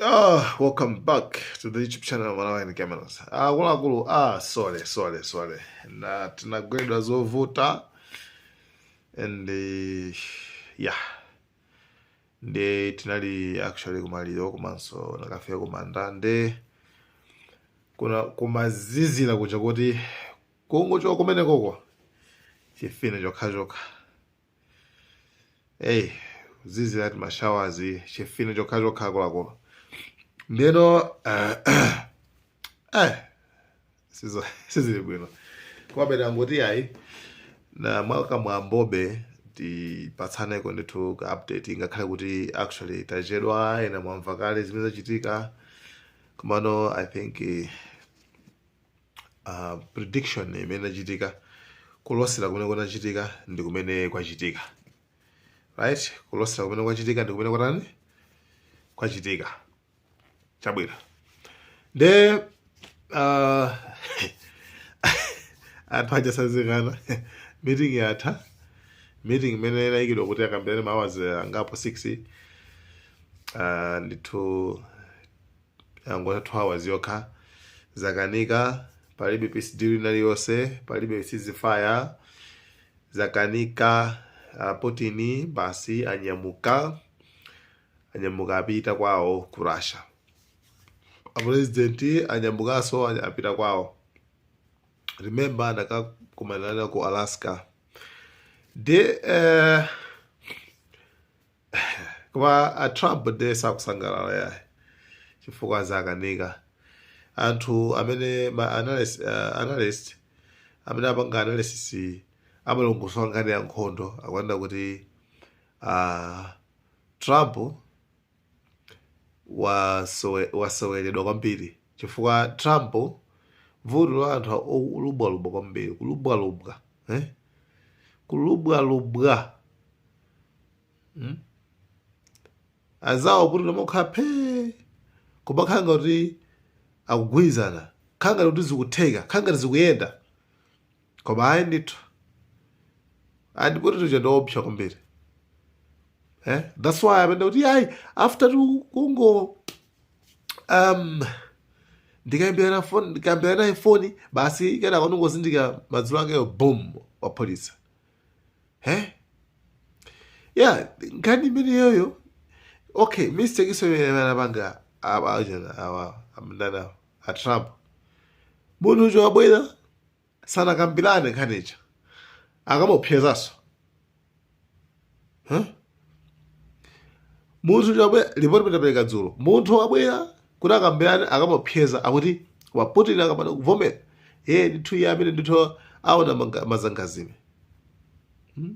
Oh, welcome back to the YouTube channel of Malawian Cameras. Ah, akuluakulu, ah, sorry, sorry, sorry. Nnaa tinagweredwa zovuta and uh, yeah. Nde tinali actually kumaliro komanso nakafika kumanda nde kunakumazizira kuja kuti kungochoka kumenekoko chifine chokhachokha eyi kuzizira ati ma showers chifine chokha chokha akuluakulu ndeno eh, eh, sizo- sizili bwino komabe tangoti ayi nnaa mwakamwambobe tipatsaneko ndithu ka update ngakhale kuti actually tachedwa ena mwamva kale zimene zachitika komano i think eh, uh, prediction imene inachitika kulosera kumene kunachitika ndi kumene kwachitika right kulosera kumene kwachitika ndi kumene kwatani kwachitika chabwino nde uh, anthu aja asadzikana meeting yatha meeting imene inayikidwa kuti akambirane ma hours angapo 6 uh, ndithu yangotha 2 hours yokha zakanika palibe peace deal ina iliyonse palibe ceasefire zakanika uh, putin basi anyamuka anyamuka apita kwawo ku russia apurezidenti anyamukanso anya- apita kwawo remember anakakumanana ku alaska nde eh, koma a trump ndiye sakusangalala yaye chifukwa zakanika anthu amene ma analyst, uh, analyst amene apanga analysis amalongosola nkhani ya nkhondo akunena kuti uh, trump wasewe- waseweredwa kwambiri chifukwa Trump vuto la anthu olubwalubwa kwambiri kulubwalubwa eh? kulubwalubwa hmm? azawo Putin amakhala phee kumakhala ngati akugwirizana khala ngati zikutheka khala ngati zikuyenda koma ayi ndithu ayi a Putin aja ndiopsa kwambiri eh? thats why amanena kuti ayi after tu- kungo um, ndikayimbirana foni ndikayimbirana naye foni basi kenaka ndingozindika madzulo akeyo boom waphulitsa eh? yeah nkhani imeneyoyo okay mistake so imene anapanga awa achana awa amndanawo a Trump. Munthucho wabwera sanakambirane nkhani ija akamuopseza Huh? munthucho wabwera lipoti tinapereka dzulo munthu wabwera kuti akambirane akamuopseza akuti Putin akapanda kuvomera iye ndithu iye amene ndithu aona manga- mazangazime Hmm?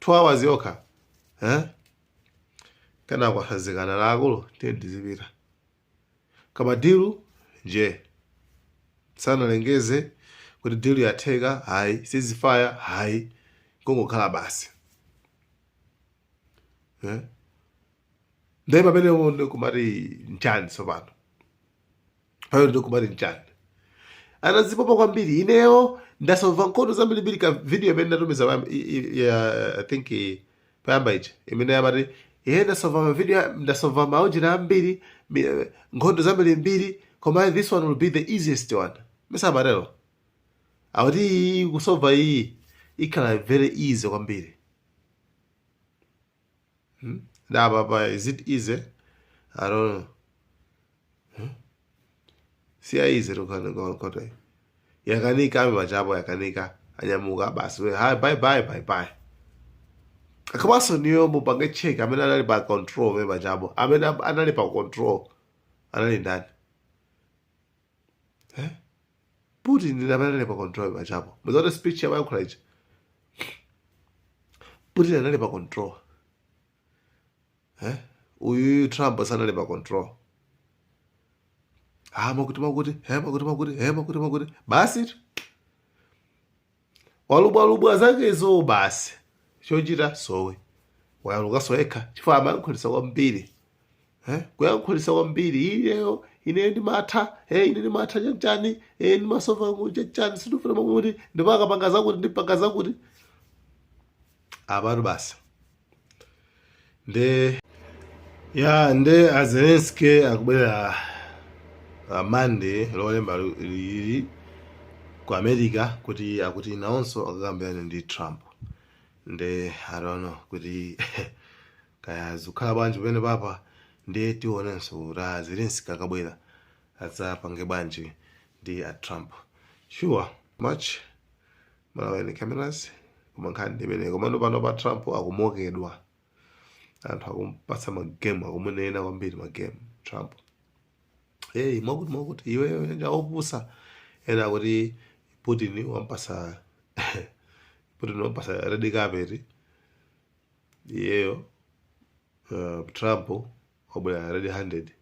2 hours yokha eh? kenako asazikana a akulu tiye tizipita koma dilu nje sanalengeze kuti dilu yatheka hayi sizifaya hayi kungokhala basi eh? ndiye pamenepo ndikumati nchani tsopano pamene ndikumati nchani anazipopa kwambiri ineyo ndasova nkhondo zambirimbiri ka video imene ndatumiza pa- i- i- ya- i think i- payamba ija imene yamati iye ndasova mavideo ndasova maujira ambiri mi- eh, nkhondo zambirimbiri koma this one will be the easiest one mwa matero akuti iyi kusova iyi ikhala very easy kwambiri Hmm? That papa, is it easy? I don't know. Hmm? See how easy to kind of go on cotton. Yakanika, I'm a jabo, Yakanika, and Yamuga Bass. Hi, bye bye, bye bye. akabaso niyo mupange check amene anali pa control we majambo amene anali pa control anali ndani eh? putin ndi amene anali pa control pajapo muzaona speech yawo ayankhula ija putin anali pa control eh? uyuyu trump sanali pa control ah makuti makuti eh, makuti makuti eh, makuti makuti basi tu walubwalubwa zakezo basi chochita sowe wayalukanso yekha chifukwa amayankhulitsa kwambiri Eh, kuyankhulitsa kwambiri ineyo ine ndimatha eh, ine ndimatha chanchani eh, ndimasova chanchani sindifuna zakuti ndipakapanga zakuti ndipanga zakuti apatu basi nde ya nde a Zelensky akubwera uh, Monday lolemba lu- lili ku America kuti akuti nawonso akakambirane ndi Trump nde I don't know kuti kaya zikakhala bwanji pamene papa nde tionenso kuti a Zelensky akabwera adzapange bwanji ndi a Trump sure much malawi ni cameras koma nkhani ndi imeneyo komano pano pa trump akumokedwa anthu akumpatsa magemu akumunena kwambiri magemu trump hey mwakuti mwakuti iweyo ndiwe opusa ena akuti putin wampasa putin wampasa red carpet iyeyo uh, trump wabwera red handed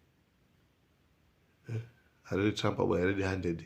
red trump wabwera red handed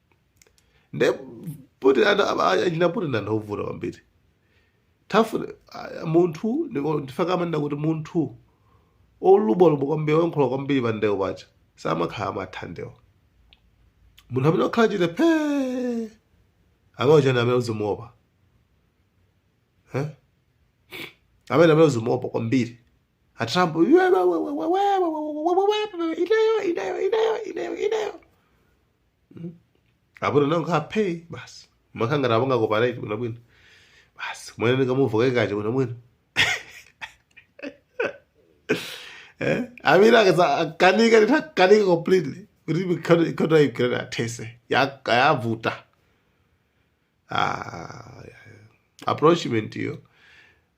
nde putin ana- aba- achina putin ndi anthu ovuta kwambiri tafuna ah, munthu ndiko- nchifukwa amanena kuti munthu olubwalubwa kwambiri oyankhula kwambiri pa ndewo paja samakhala amatha ndewo munthu amene wakhala chete phee amene uja ndi amene uzimuopa Eh? amene amene uzimuopa kwambiri atrump ineyo ineyo ineyo ineyo ineyo apo ndinakhala phe basi umakhala ngati apanga cooperate bwinobwino basi kumene ndikamuva kaikache bwinobwino Eh? amene akanika nditakanika completely kuti mikhono- ikhono ikirani athese Ya- yavuta Ah, approachment iyo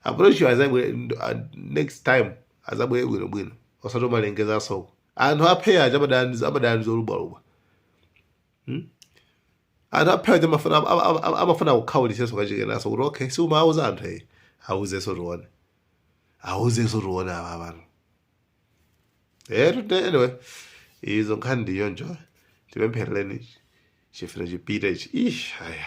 approach yo azabwe ndo- ah, next time azabwere bwinobwino osati umalengeza asoko anthu aphe aja amadana ndi- amadana ndi zolubwalubwa Hmm? anthu aphe aja amafuna ama- ama- ama- amafuna akukhawulisenso kachikenaso kuti okay si umawuza anthu eyi awuzenso tione awuzenso tione apa abantu etu nde anyway izo nkhani ndi choncho tipempherereni chifuwa chipite ichi ish aya